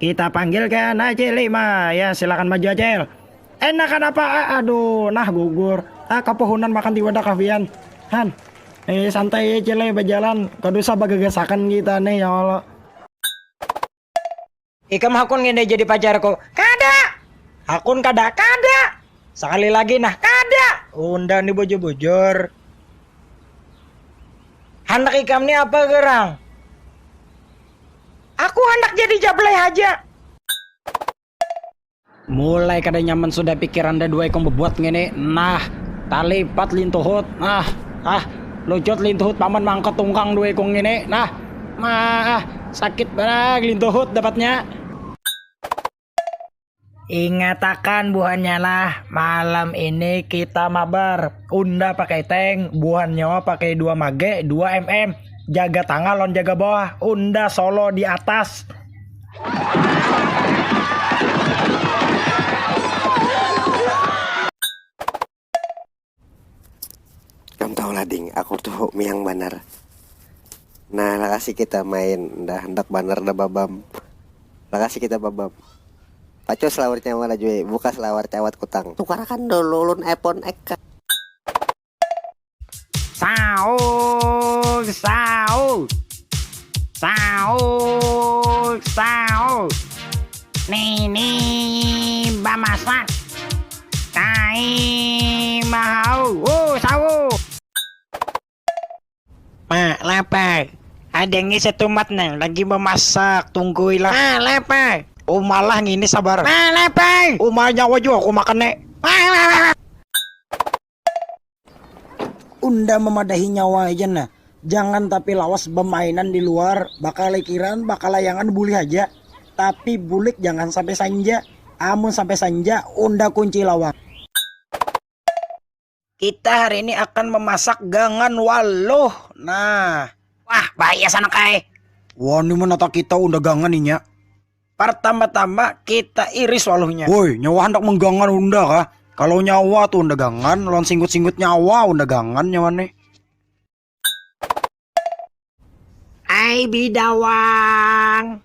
Kita panggilkan Acil Lima. Ya, silakan maju Acil. Enak kan apa? Ah, aduh, nah gugur. Ah, kepohonan makan tiba dah kafian. Han, eh santai ya Cile eh, berjalan. Kau dosa bagagasakan kita nih ya Allah. Ikam hakun gini jadi pacarku. Kada. Hakun kada, kada. Sekali lagi nah kada. Undang nih bujur-bujur. Handak ikam nih apa gerang? Aku handak jadi jablay haja. Mulai kada nyaman sudah pikiran daduwa ikung bebuat ngini. Nah, talipat lintuhut. Nah, ah, lucut lintuhut paman maangkat tungkang duwa ikung ngini. Nah, maah, sakit banar lintuhut dapatnya. Ingatakan buhannya lah, malam ini kita mabar. Unda pakai tank, buhan nyawa pakai 2 mage, 2 mm. Jaga tangah lawan jaga bawah, unda solo di atas. Kam tahu lah ding, aku tu miang banar. Nah lakasi kita main, dah hendak banar dah babam. Lakasi kita babam. Pacus laur nyawa lah jui, bukas lawar cawat kutang. Tukarakan dulu ulun iPhone X ka. Saug saug Saug saug Nini bamasak Taii mahau uh sawu. Ma, lapar. Ada ngi setumat nang lagi memasak, tunggui lah. Ma, lapar. Uma lah ngini sabar. Ma, lapar. Uma nyawa jua aku makan ne. Ma, lapar. Unda memadahi nyawa haja nah, jangan tapi lawas bemainan di luar, bakalikiran, bakalayangan bulih haja, tapi bulik jangan sampai sanja, amun sampai sanja unda kunci lawang. Kita hari ini akan memasak gangan waluh nah. Wah bahaya sanak ai. Wani menata kita unda gangan inya. Partamba-tamba kita iris waluhnya. Woi, nyawa handak menggangan unda kah? Kalau nyawa tuh unda gangan, lawan singgut-singgut nyawa unda gangan nyawa nih. Ai bidawang.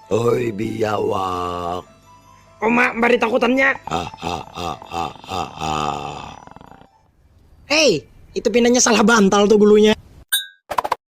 Oi biawak. Uma bari takutannya. Hei, itu pinanya salah bantal tuh gulunya.